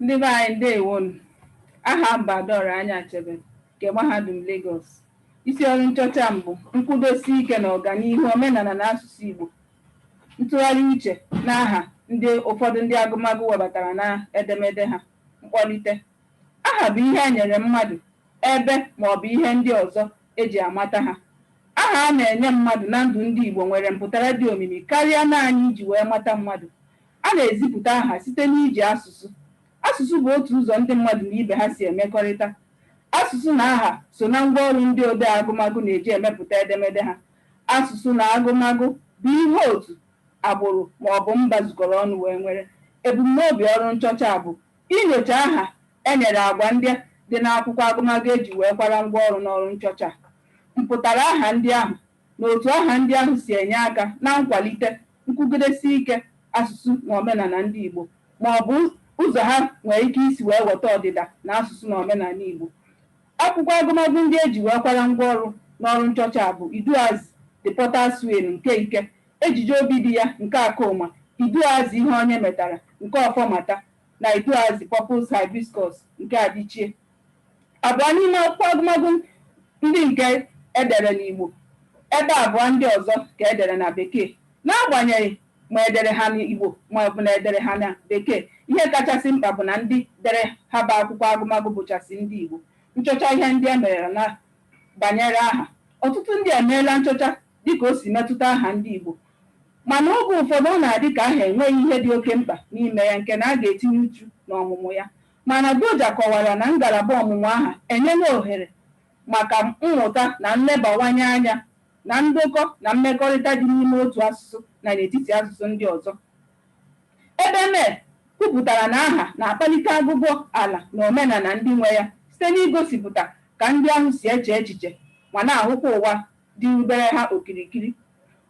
Ndị be anyị ndewonu. Aha m bụ Adaọra Anyachebelu nke Mahadum Lagos. Isi ọrụ nchọcha m bụ nkwudosi ike na ọganihu omenala na asụsụ Igbo, ntụgharị uche n'aha ndị ụfọdụ ndị agụmagụ webatara na edemede ha. Mkpọlite. Aha bụ ihe e nyere mmadụ, ebe ma ọ bụ ihe ndị ọzọ e ji amata ha. Aha a na-enye mmadụ na ndụ ndị Igbo nwere mpụtara dị omimi karịa naanị iji wee mata mmadụ. A na-ezipụta aha site n'iji asụsụ. Asụsụ bụ otu ụzọ ndị mmadụ na ibe ha si emekọrịta. Asụsụ na aha so na ngwa ọrụ ndị odee agụmagụ na-eji emepụta edemede ha. Asụsụ na agụmagụ bụ ihe otu, agbụrụ ma ọ bụ mba zukọrọ ọnụ wee nwere. Ebumnobi ọrụ nchọcha a bụ inyocha aha e nyere agwa ndị dị n'akwụkwọ agụmagụ e ji wee kwara ngwa ọrụ n'ọrụ nchọcha a. Mpụtara aha ndị ahụ na otu aha ndị ahụ si enye aka na nkwalite nkwugidesi ike asụsụ na omenala ndị Igbo ma ọ bụ ụzọ ha nwere ike isi wee weta ọdịda na asụsụ na omenala Igbo. Akwụkwọ agụmagụ ndị e ji wee kwara ngwa ọrụ n'ọrụ nchọcha a bụ Iduuazị, The Potter's Wheel nke Ike, Ejije Obidiya nke Akọma, Iduuazị Ihe Onye Metara nke Ọfọmata na Iduuazị Purple's Hibiscus nke Adichie. Abụọ n'ime akwụkwọ agụmagụ ndị nke e dere n'Igbo, ebe abụọ ndị ọzọ ka e dere na Bekee. N'agbanyeghị ma e dere ha n'Igbo ma ọ bụ na e dere ha na Bekee, ihe kachasị mkpa bụ na ndị dere ha bụ akwụkwọ agụmagụ bụchasị ndị Igbo. Nchọcha ihe ndị e merela banyere aha. Ọtụtụ ndị emeela nchọcha dị ka o si metụta aha ndị Igbo, mana oge ụfọdụ ọ na-adị ka aha enweghị ihe dị oke mkpa n'ime ya nke na a ga-etinye uchu n'ọmụmụ ya. Mana Doja kọwara na ngalaba ọmụmụ aha enyela ohere maka mmụta na nlebawanye anya na ndokọ na mmekọrịta dị n'ime otu asụsụ na n'etiti asụsụ ndị ọzọ. Ebeme kwupụtara na aha na-akpalite agụgụ ala na omenala ndị nwe ya site n'igosipụta ka ndị ahụ si eche echiche ma na-ahụkwa ụwa dịrubere ha okirikiri.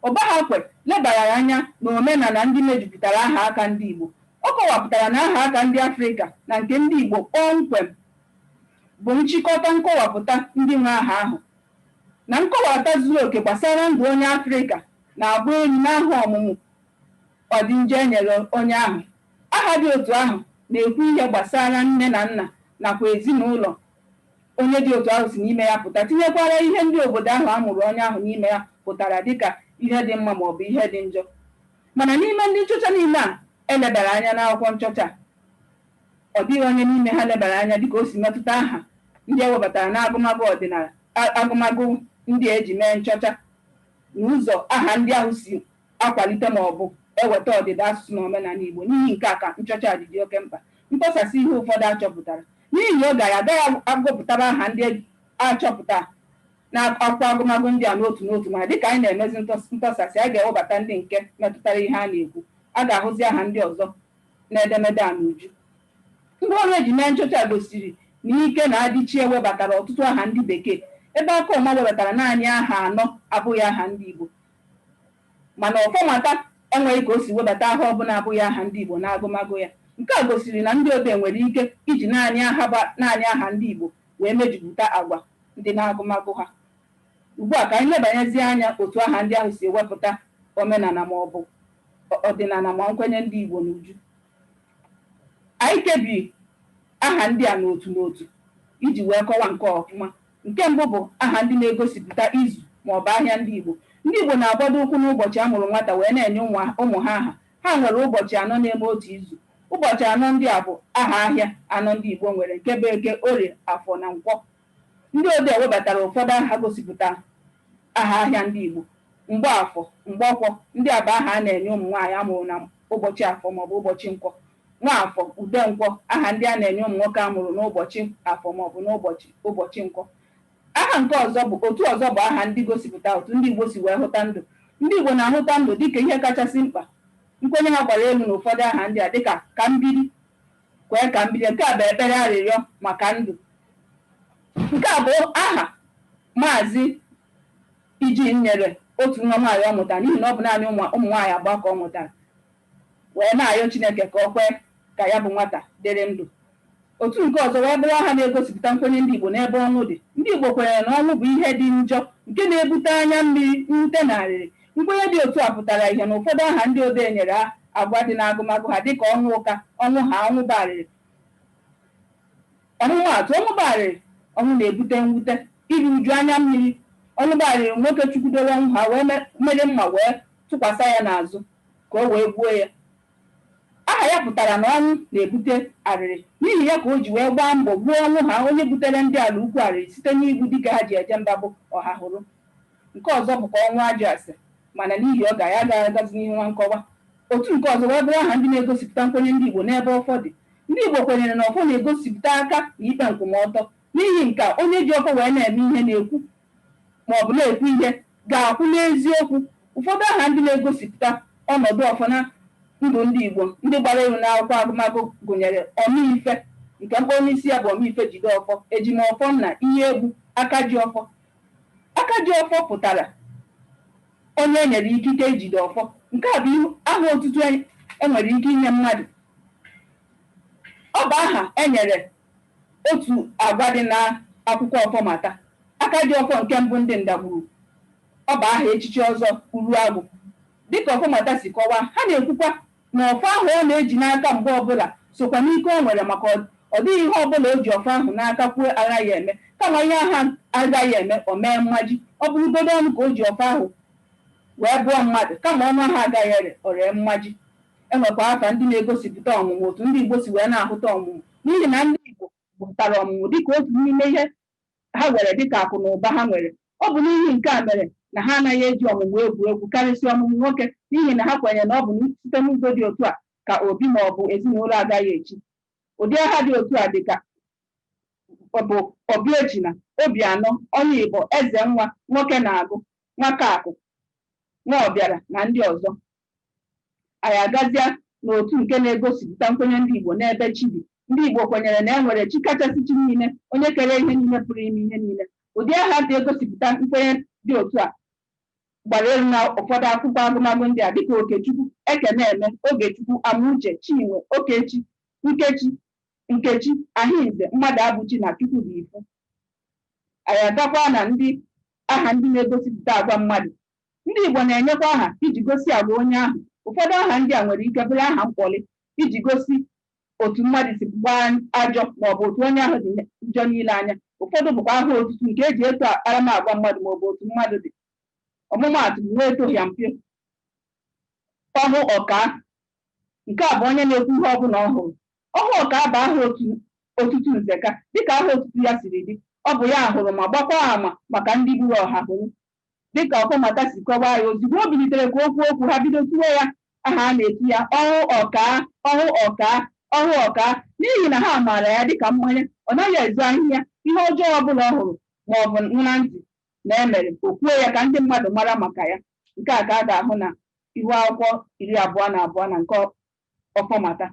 Ụbahakwe lebarara anya n'omenala ndị mejupụtara ahaaka ndị Igbo. Ọ kọwapụtara na ahaaka ndị Afrịka na nke ndị Igbo kpọmkwem bụ nchịkọta nkọwapụta ndị nwe aha ahụ, na nkọwata zuru oke gbasara ndụ onye Afrịka na-agba elu n'aha ọmụmụ ọdịnja e nyere onye ahụ. Aha dị otu ahụ na-ekwu ihe gbasara nne na nna nakwa ezinaụlọ Onye dị otu ahụ si n'ime ya pụta, tinyekwara ihe ndị obodo ahụ a mụrụ onye ahụ n'ime ya hụtara dị ka ihe dị mma ma ọ bụ ihe dị njọ. Mana n'ime ndị nchọcha niile a e lebara anya n'akwụkwọ nchọcha a, ọ dịghị onye n'ime ha lebara anya dị ka o si metụta aha ndị e webatara n'agụmagụ ọdịnala, agụmagụ ndị a e ji mee nchọcha, na ụzọ aha ndị ahụ si akwalite ma ọ bụ eweta ọdịda asụsụ na omenala Igbo. N'ihi nke a ka nchọcha a ji dị oke mkpa. Ntọsasị ihe ụfọdụ a chọpụtara N'ihi oge, anyị agaghị agụpụtara aha ndị a chọpụtara n'akwụkwọ agụmagụ ndị a n'otu n'otu, ma dịka anyị na-emezi ntọsasị, anyị ga-ewebata ndị nke metụtara ihe a na-ekwu. A ga-ahụzị aha ndị ọzọ n'edemede a n'uju. Ngwaọrụ e ji mee nchọcha a gosiri na Ike na Adichie webatara ọtụtụ aha ndị Bekee, ebe Akọma webatara naanị aha anọ abụghị aha ndị Igbo. Mana Ọfọmata enweghị ka o si webata aha ọbụla abụghị aha ndị Igbo n'agụmagụ ya. Nke a gosiri na ndị odee nwere ike iji naanị aha ndị Igbo wee mejupụta agwa ndị n'agụmagụ ha. Ugbua ka anyị lebanyezie anya otu aha ndị ahụ si ewepụta omenala maọbụ ọdịnala ma nkwenye ndị Igbo n'uju. Anyị kebiri aha ndị a n'otu n'otu iji wee kọwa nke a ọfụma. Nke mbụ bụ aha ndị na-egosipụta izu ma ọ bụ ahịa ndị Igbo. Ndị Igbo na-agbado ụkwụ n'ụbọchị a mụrụ nwata wee na-enye ụmụ ha aha. Ha nwere ụbọchị anọ na-eme otu izu. Ụbọchị anọ ndị a bụ aha ahịa anọ ndị Igbo nwere nke bụ Eke, Orie, Afọ na Nkwọ. Ndị odee webatara ụfọdụ aha gosipụta aha ahịa ndị Igbo. Mgbafọ, Mgbọkwọ, ndị a bụ aha a na-enye ụmụ nwaanyị a mụrụ na ụbọchị Afọ ma ọ bụ ụbọchị Nkwọ. Nwafọ, Udenkwọ, Aha ndị a na-enye ụmụ nwoke a mụrụ n'ụbọchị Afọ maọbụ n'ụbọchị Nkwọ. Aha nke ọzọ bụ otu ọzọ bụ aha ndị gosipụta otu ndị Igbo si wee hụta ndụ. Ndị Igbo na-ahụta ndụ dịka ihe kachasị mkpa. Nkwenye ha gbara elu n'ụfọdụ aha ndị a dịka Kambiri, kwee ka m biri, nke a bụ ekpere arịrịọ maka ndụ. Nke a bụ aha Maazị Eugene nyere otu nwa nwaanyị ọ mụtara n'ihi na ọ bụ naanị ụmụ nwaanyị abụọ ka ọ mụtara. wee na-arịọ Chineke ka o kwee ka ya bụ nwata dịrị ndụ. Otu nke ọzọ wee bụrụ aha na-egosipụta nkwenye ndị Igbo n'ebe ọnwụ dị. Ndị Igbo kwenyere na ọnwụ bụ ihe dị njọ nke na-ebute anya mmiri, mwute na arịrị. Nkwenye dị otu a pụtara ihe n'ụfọdụ aha ndị odee nyere agwa dị n'agụmagụ ha dịka Ọnwụka, Ọnwụhaa, Ọnwụbarịrị. Ọmụmaatụ, Ọnwụbarịrị, ọnwụ na-ebute mwute, iru uju, anya mmiri. Ọnwụbarịrị, nwoke chukwudoro Ọnwụhaa wee were mma wee tụkwasa ya n'azụ. ka o wee gbuo ya. Aha ya pụtara na ọnwụ na-ebute arịrị. N'ihi ya ka o ji wee gbaa mbọ gbuo Ọnwụha onye buteere ndị Alaukwu arịrị site n'igbu dike ha ji eje mba bụ Ọhahụrụ. Nke ọzọ bụkwa Ọnwụajụase mana n'ihi oge anyị agaghị agazi n'ihu na nkọwa. Otu nke ọzọ wee bụrụ aha ndị na-egosipụta nkwenye ndị Igbo n'ebe ọfọ dị. Ndị Igbo kwenyere na ọfọ na-egosipụta aka na ikpe nkwụmọtọ. N'ihi nke a, onye ji ọfọ wee na-eme ihe na-ekwu ma ọ bụ na-ekwu ihe ga-akwụ n'eziokwu. Ụfọdụ aha ndị na-egosipụta ọnọdụ ọfọ na ndụ ndị Igbo ndị gbara elu n'akwụkwọ agụmagụ gụnyere Ọmaife nke mkpọru n'isi ya bụ Ọmaife Jideọfọ, Ejimọfọnna, Iheegbu, Akajiọfọ. Akajiọfọ pụtara onye e nyere ikike ijide ọfọ. Nke a bụ aha otutu e nwere ike inye mmadụ. Ọ bụ aha e nyere otu agwa dị na akwụkwọ Ọfọmata, Akajiọfọ nke mbụ ndị Ndagburu. Ọ bụ aha echichi Ọzọ Uruagwụ. Dị ka Ọfọmata si kọwaa, ha na-ekwukwa na ọfọ ahụ ọ na-eji n'aka mgbe ọ bụla sokwa n'ike o nwere maka ọ dịghị ihe ọ bụla o ji ọfọ ahụ n'aka kwuo agaghị eme, kama ihe ahụ agaghị eme, o mee mmaji. Ọ bụrụgodị ọnụ ka o ji ọfọ ahụ wee bụọ mmadụ, kama ọnụ ahụ agaghị ere, o ree mmaji. E nwekwa afa ndị na-egosipụta ọmụmụ otu ndị Igbo si wee na-ahụta ọmụmụ n'ihi na ndị Igbo hụtara ọmụmụ dịka otu n'ime ihe ha were dịka akụ na ụba ha nwere. Ọ bụ n'ihi nke a mere na ha anaghị eji ọmụmụ egwu egwu, karịsịa ọmụmụ nwoke, n'ihi na ha kwenyere na ọ bụ site n'ụzọ dị otu a ka obi ma ọ bụ ezinụlọ agaghị echi. Ụdị aha dị otu a dịka bụ Obiechina, Obianọ, Ọnụigbo, Ezenwa, Nwokenaagụ, Nwakaakụ, Nwaọbịara na ndị ọzọ. anyị agazịa n'otu nke na-egosipụta nkwenye ndị Igbo n'ebe chi dị ndị Igbo kwenyere na e nwere chi kachasị chi niile onye kere ihe niile pụrụ ime ihe niile ụdị aha dị egosipụta nkwenye dị otu a gbara elu na ụfọdụ akwụkwọ agụmagụ ndị a dịka Okechukwu Ekeneme Ogechukwu Amuche Chinwe Okechi Nkechi Nkechi Ahinze Mmadụabụchi na Chukwudifu anyị agakwa na ndị aha ndị na-egosipụta agwa mmadụ Ndị Igbo na-enyekwa aha iji gosi agwa onye ahụ. Ụfọdụ aha ndị a nwere ike bụrụ aha mkpọlị iji gosi otu mmadụ si gbaa ajọ maọbụ otu onye ahụ dị njọ n'ile anya. Ụfọdụ bụkwa aha otutu nke e ji eto akparamagwa mmadụ maọbụ otu mmadụ dị. Ọmụmaatụ, Nwaetohịampio, Ọhụọkaa. Nke a bụ onye na-ekwu ihe ọbụla ọ hụrụ. Ọhụọkaa bụ aha otutu Nzeka dịka aha otutu ya siri dị. Ọ bụ ya hụrụ ma gbakwaa ama maka ndị gburu Ọhahụrụ. Dịka Ọfọmata si kọwaa ya, ozugbo o bilitere ka o kwuo okwu, ha bido tuwe ya aha a na-etu ya, Ọhụ Ọkaa! Ọhụ Ọkaa! Ọhụ Ọkaa! N'ihi na ha maara ya dịka mmanya, ọ naghị ezo ahịhịa, ihe ọjọọ ọbụla ọ hụrụ maọbụ nụ na ntị na e mere, o kwuo ya ka ndị mmadụ mara maka ya. Nke a ka a ga-ahụ na ihu akwụkwọ iri abụọ na abụọ na nke Ọfọmata.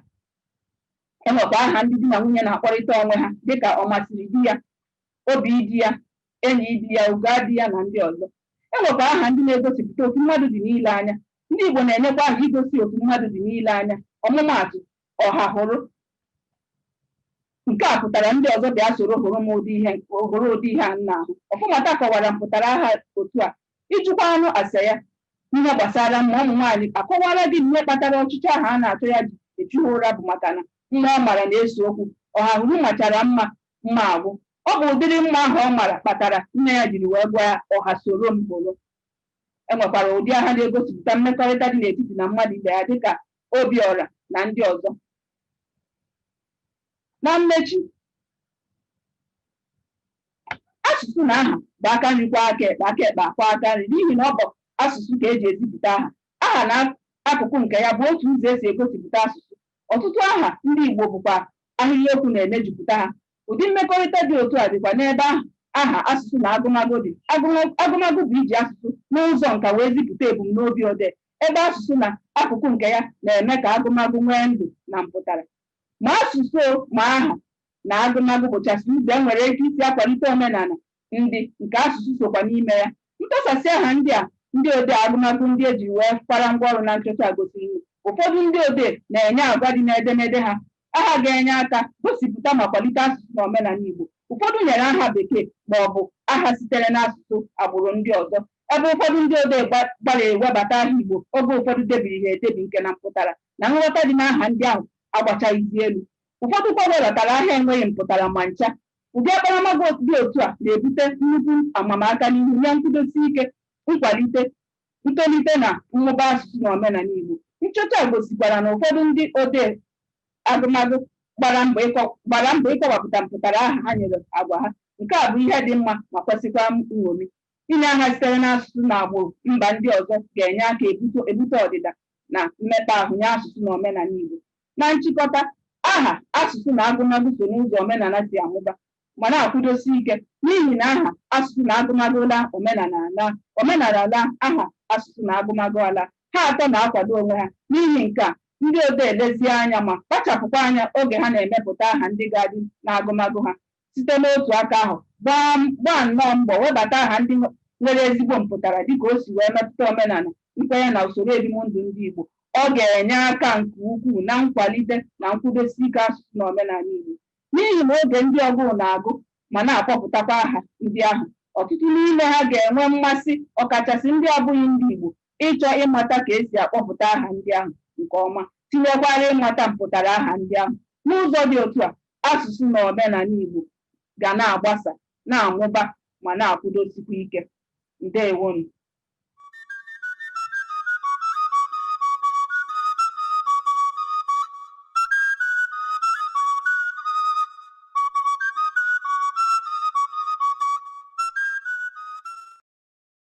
E nwekwa aha ndị di na nwunye na-akpọrịta onwe ha dịka Ọmasịrị di ya, Obi di ya, enyi di ya, Ugo di ya na ndị ọzọ. E nwekwa aha ndị na-egosipụta otu mmadụ dị n'ile anya. Ndị Igbo na-enyekwa aha igosi otu mmadụ dị n'ile anya. Ọmụmaatụ, Ọhahụrụ. Nke a pụtara ndị ọzọ bịa soro hụrụ m ụdị ihe hụrụ ụdị ihe a m na-ahụ. Ọfọmata kọwara mpụtara aha otu a. Ị jụkwanụ ase ya ihe gbasara mma ụmụ nwaanyị a kọwara gị ihe kpatara ọchịchọ ahụ a na-achọ ya ji echu ha ụra bụ maka na mma ọ mara na-ese okwu. Ọhahụrụ machara mma mma agwụ. Ọ bụ ụdịrị mma ahụ ọ mara kpatara nne ya jiri wee gụọ ya ọha soro m hụrụ. E nwekwara ụdị aha na-egosipụta mmekọrịta dị n'etiti na mmadụ ibe ya dịka Obiọra na ndị ọzọ. Na mmechi, asụsụ na aha bụ aka nri kwọọ aka ekpe aka ekpe akwọọ aka nri n'ihi na ọ bụ asụsụ ka e ji ezipụta aha. Aha na akụkụ nke ya bụ otu ụzọ e si egosipụta asụsụ. Ọtụtụ aha ndị Igbo bụkwa ahịrịokwu na-emejupụta ha. Ụdị mmekọrịta dị otu a dịkwa n'ebe aha, aha, asụsụ na agụmagụ dị. Agụm, agụmagụ bụ iji asụsụ n'ụzọ nka wee zipụta ebumnobi odee, ebe asụsụ na akụkụ nke ya na-eme ka agụmagụ nwee ndụ na mpụtara. Ma asụsụ ma aha na agụmagụ bụchasị ụzọ e nwere ike isi akwalite omenala ndị nke asụsụ sokwa n'ime ya. Ntụsasị aha ndị a ndị odee agụmagụ ndị e jiri wee kwara ngwa ọrụ na nchọcha a gosiri na ụfọdụ ndị odee na-enye agwa dị n'edemede ha aha ga-enye aka gosipụta ma kwalite asụsụ na omenala Igbo. Ụfọdụ nyere aha Bekee ma ọ bụ aha sitere n'asụsụ agbụrụ ndị ọzọ, ebe ụfọdụ ndị odee gbalịrị webata aha Igbo oge ụfọdụ debiri ha edebi nke na mpụtara na nghọta dị n'aha ndị ahụ agbachaghịzi elu. Ụfọdụ kwa webatara aha enweghị mpụtara ma ncha. Ụdị akparamagwa dị otu a na-ebute nnukwu amamaka n'ihu nye nkwụdosi ike, nkwalite, ntolite na mmụba asụsụ na omenala Igbo. Nchọcha a gosikwara na ụfọdụ ndị odee agụmagụ gbara mbọ ịkọ gbara mbọ ịkọwapụta mpụtara aha ha nyere agwa ha. Nke a bụ ihe dị mma ma kwesịkwa nṅomi. Inye aha sitere n'asụsụ na agbụrụ mba ndị ọzọ ga-enye aka ebuto ebute ọdịda na mmekpa ahụ nye asụsụ na omenala Igbo. Na nchịkọta, aha, asụsụ na agụmagụ so n'ụzọ omenala si amụba ma na-akwụdosi ike n'ihi na aha, asụsụ na agụmagụ laa, omenala alaa, omenala laa, aha, asụsụ na agụmagụ alaa. Ha atọ na-akwado onwe ha. N'ihi nke a, ndị odee lezie anya ma kpachapụkwa anya oge ha na-emepụta aha ndị ga-adị n'agụmagụ ha, site n'otu aka ahụ gbaa gbaa nnọọ mbọ webata aha ndị nwe- nwere ezigbo mpụtara dịka o si wee metụta omenala nkwenye na usoro ebimndụ ndị Igbo ọ ga-enye aka nke ukwuu na nkwalite na nkwụdosi ike asụsụ na omenala Igbo n'ihi na oge ndị ọgụụ na-agụ ma na-akpọpụtakwa aha ndị ahụ ọtụtụ n'ime ha ga-enwe mmasị ọkachasị ndị abụghị ndị Igbo ịchọ ịmata ka e si akpọpụta aha ndị ahụ nke ọma, tinyekwara ịmata mpụtara aha ndị ahụ. N'ụzọ dị otu a, asụsụ na omenala Igbo ga na-agbasa, na-amụba ma na-akwụdosikwa ike. Ndewonụ.